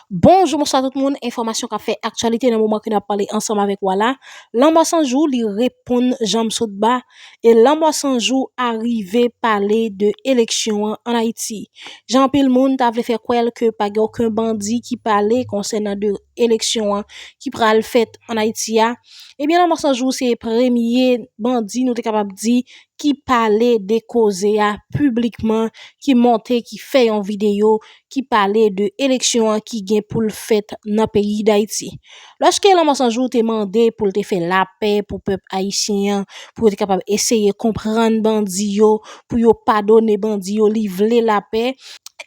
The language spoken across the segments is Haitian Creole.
Bonjou bonswa tout moun enfòmasyon kap fè aktyalite nan moman ke nap pale ansanm avèk ou a la lanmò san jou li reponn janm sot ba e lanmò san jou a rive pale de eleksyon an an Ayiti jan anpil moun ta vle fè kwè l ke pa gen oken bandi ki pale konsènan de eleksyon an ki pral fèt an Ayiti a ebyen lanmò san jou se premye bandi nou te kapab di ki pale de koze a piblikman ki monte ki fè yon videyo ki pale de eleksyon an ki gen pou l fèt nan peyi Dayiti. Lòske Lanmò San Jou te mande pou l te fè lapè pou pèp ayisyen an, pou yo te kapab eseye konprann bandi yo, pou yo padone bandi yo, li vle lapè,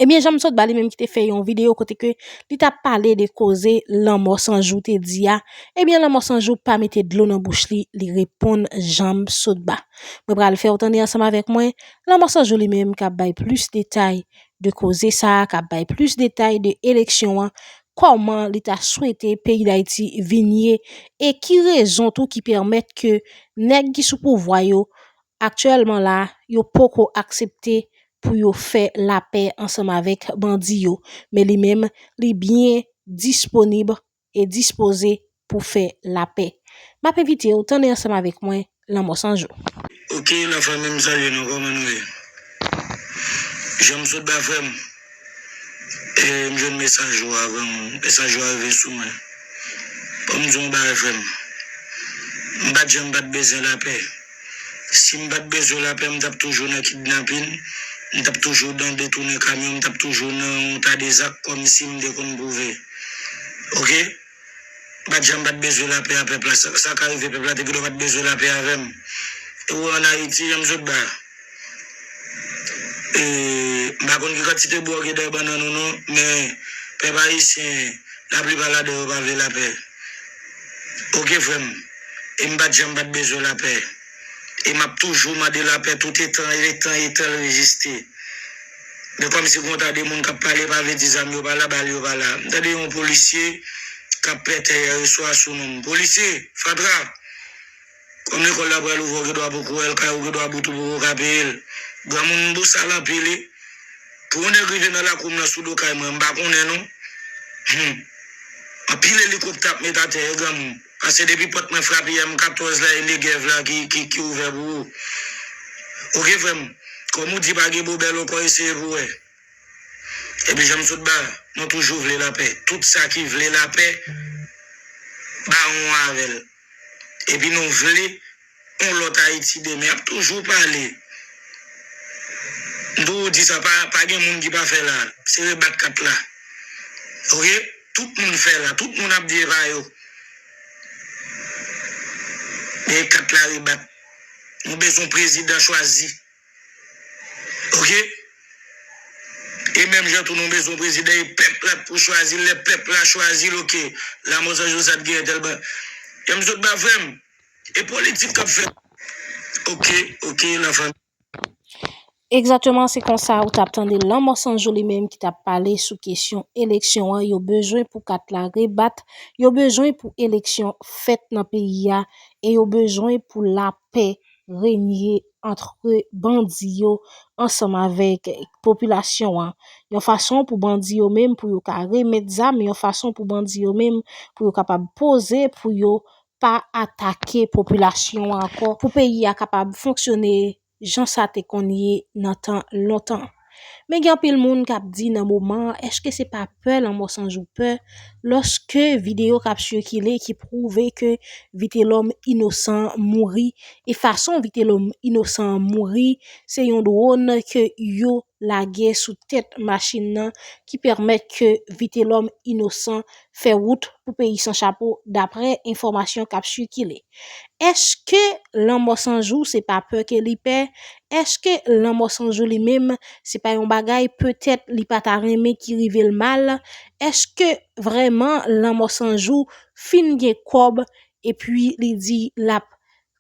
ebyen Jan Msot Ba li menm ki te fè yon videyo kote ke li t ap pale de koze Lanmò San Jou te di a, ebyen Lanmò San Jou pa mete dlo nan bouch li, li reponn Jan Msot Ba. Mwen pral fè w tande ansanm avèk mwen, Lanmò San Jou li menm k ap bay plis detay de koze sa a kap bay plis detay de eleksyon an, kòman li ta swete peyi Dayiti vin ye e ki rezon tou ki pèmèt ke nèg ki sou pouvwa yo aktyèlman la yo poko aksepte pou yo fè lapè ansanm avèk bandi yo men li menm li byen disponib e dispoze pou fè lapè. M ap envite w tanmen ansanm avèk mwen Lanmò San Jou. Ok la fanmi m salye nou koman nou ye janm sot ba frèm e m jwenn mesaj ou avan mesaj ou a rive sou mwen banm di w yon bagay frèm m pat janm pat bezwen lapè. Sim pat bezwen lapè m tap toujou nan kidnapin, m tap toujou nan detounen kamyon, m tap toujou nan yon ta de zak kòmsi m te konn pwouve. Ok. M pat janm pat bezwen lapè a pèp la. Sa ka rive pèp la te pito pat bezwen lapè avè m. E w wè an Ayiti jan m sot ba a. E m pa konn ki kantite bwa gen dèyè bannann ou non, men pèp ayisyen laplipa ladan yo pa vle lapè. Ok frè m. E m pat janm pat bezwen lapè. E m ap toujou mande lapè tout etan e tan etan l reziste. Men kòmsi gen yon ta de moun k ap pale pa vle di zam yo pa la, bal yo pa la. M tande yon polisye k ap pètè yèreswa sou non m. Polisye! Fatra! Kòm lekòl la pral ouvè w gen dwa poko wè l, kay ou gen dwa bout ou poko ka peye l. Granmoun m bosal anpil e pou yon nèg rive nan lakou m nan sou do kay mwen m pa konnen non. Hum! Anpil elikoptè ap met atè e granmoun. Pase depi pòt mwen frape M 14 la Enegev la ki ouvè pou ou Ok frè m Kòm ou di pa gen bobèl ou kò eseye pou wè Epi jan m sot ba Mwen toujou vle lapè Tout sa ki vle lapè Baron an avè l Epi nou vle Yon lòt Ayiti demen ap toujou pale. M toujou di sa, pa gen moun ki pa fè la. Se rebat kat la. Ok, tout moun fè la. Tout moun ap di pa yo. Men kat la rebat. Nou bezwen yon prezidan chwazi. Ok. E menm jan tou nou bezwen yon prezidan e pèp la pou chwazi l. Lè pèp la chwazi l, ok. Lamothe Jean Joseph gen tèl bagay. Yon m sot ba frè m. E politik kap fèt ok ok la fanmi. Egzateman se konsa ou tap tande lanmò sanjou li menm ki tap pale sou kesyon eleksyon an yo bezwen pou kat la rebat yo bezwen pou eleksyon fèt nan peyi a e yo bezwen pou lapè renye antre bandi yo ansanm avèk popilasyon an yon fason pou bandi yo menm pou yo ka remèt zam yon fason pou bandi yo menm pou yo kapab poze pou yo pa atake popilasyon an ankò pou peyi a kapab fonksyone jan sa te konn ye nan tan lontan. Men gen anpil moun k ap di nan moman an èske se pa pè lanmò san jou pè lòske videyo k ap sikile ki pwouve ke Vitelòm inosan mouri e fason Vitelòm inosan an mouri se yon dwòn ke yo lage sou tèt machin nan ki pèmèt ke Vitelòm Inosan fè wout pou peyi san chapo daprè enfòmasyon k ap sikile. Eske lanmò san jou se pa pè ke li pè? Eske lanmò san jou li menm se pa yon bagay petèt li pa ta renmen ki rive l mal? Eske vrèman lanmò san jou fin gen kòb epi li di l ap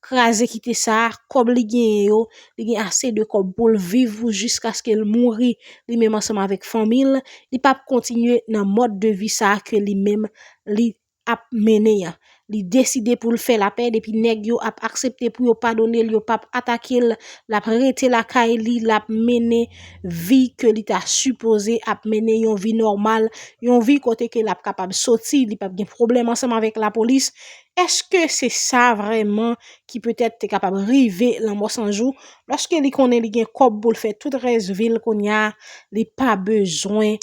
kraze kite sa, kòb li genyen yo, li gen ase de kòb pou l viv pou jiskaske l mouri li menm ansanm avèk fanmi l, li pa p kontinye nan mòd de vi sa ke li menm li ap mennen an. Li deside pou l fè lapè depi nèg yo ap aksepte pou yo padone l, yo pa p atake l, l ap rete lakay li, l ap mennen vi ke li ta sipoze ap mennen yon vi nòmal, yon vi kote ke l ap kapab soti, li pa p gen pwoblèm ansanm avèk lapolis. Eske se sa vreman ki petèt te kapab rive Lanmò 100 jou, lòske li konnen li gen kòb pou l fè tout rès vi l kounya, li pa bezwen,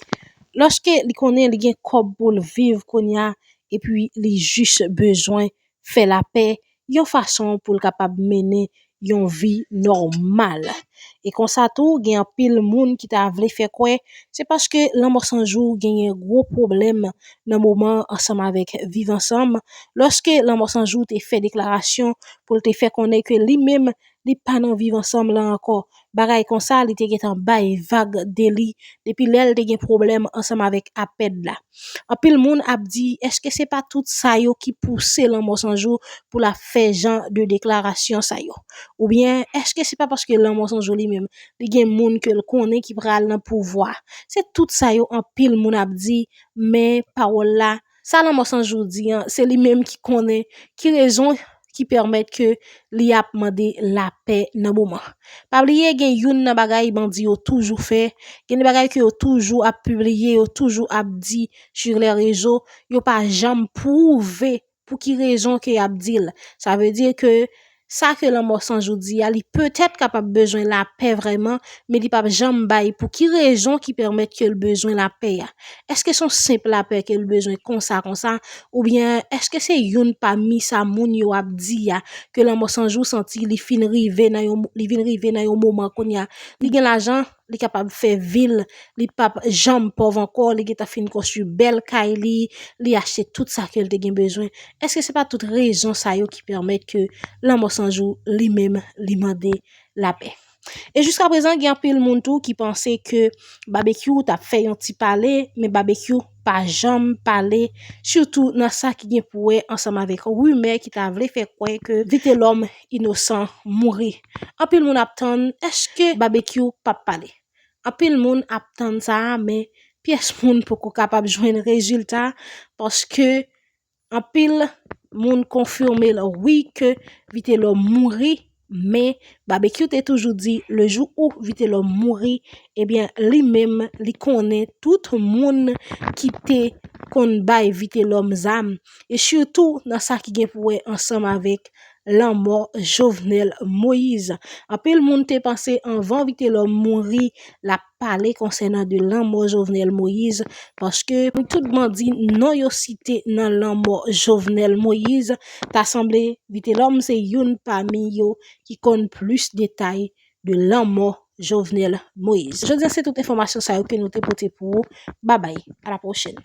lòske li konnen li gen kòb pou l viv kounya, epi li jis bezwen fè lapè yon fason pou l kapab mennen yon vi nòmal. E konsa tou gen anpil moun ki ta vle fè kwè se paske Lanmò 100 jou genyen gwo pwoblèm nan moman ansanm avèk Viv ansanm lòske Lanmò 100 jou te fè deklarasyon pou l te fè konnen ke li menm li pa nan Viv ansanm lan ankò bagay konsa li te gentan bay vag de li depi lè l te gen pwoblèm ansanm avèk APED la. Anpil moun ap di èske se pa tout sa yo ki pouse Lanmò 100 jou pou l ap fè jan de deklarasyon sa yo? Oubyen èske se pa paske Lanmò 100 jou li menm li gen moun ke l konnen ki pral nan pouvwa? Se tout sa yo anpil moun ap di men pawòl la Sa lanmò san jou di an, se li menm ki konnen ki rezon ki pèmèt ke li ap mande lapè nan moman. Pa bliye gen youn nan bagay bandi yo toujou fè, gen de bagay ke yo toujou ap pibliye, yo toujou ap di sur les réseaux, yo pa janm pwouve pou ki rezon ke y ap di l. Sa vle di ke Sa ke lanmò san jodi a, li petèt kapab bezwen lapè vrèman, men li pap janm bay pou ki rezon ki pèmèt ke l bezwen lapè a. Èske s on senp lapè ke l bezwen konsa konsa, oubyen èske se youn pami sa moun yo ap di a, ke lanmò san jou santi li fin rive nan yon, li vin rive nan yon moman kounye a, li gen lajan, li kapab fè vil, li pap janm pòv ankò, li gentan fin konstwi bèl kay li, li achte tout sa ke l te gen bezwen. Eske se pa tout rezon sa yo ki pèmèt ke lanmò san jou li menm li mande lapè? E jiska prezan gen anpil moun tou ki panse ke Babekyou ta fè yon ti pale, men Babekyou. pa janm pale sitou nan sa ki gen pou wè ansanm avèk rimè ki ta vle fè kwè ke Vitelòm inosan mouri. Anpil moun ap tann èske Babekyou pap pale? Anpil moun ap tann sa a men pyès moun poko kapab jwenn rezilta paske Anpil Moun konfime l wi ke vitelom mouri men babekyou te toujou di le jou ou vitelom mouri ebyen li menm li konnen tout moun ki te konn bay vitelom zam e sitou nan sa ki gen pou wè ansanm avèk lanmò jovenel moise anpil moun te panse anvan vitelom mouri lap pale konsènan de lanmò Jovenel Moïse paske pou tout bandi non yo site nan lanmò Jovenel Moïse ta sanble Vitelòm se youn pami yo ki konn plis detay de lanmò Jovenel Moïse. Jodi an se tout enfòmasyon sa yo ke nou te pote pou ou. Babay, a la pwochen.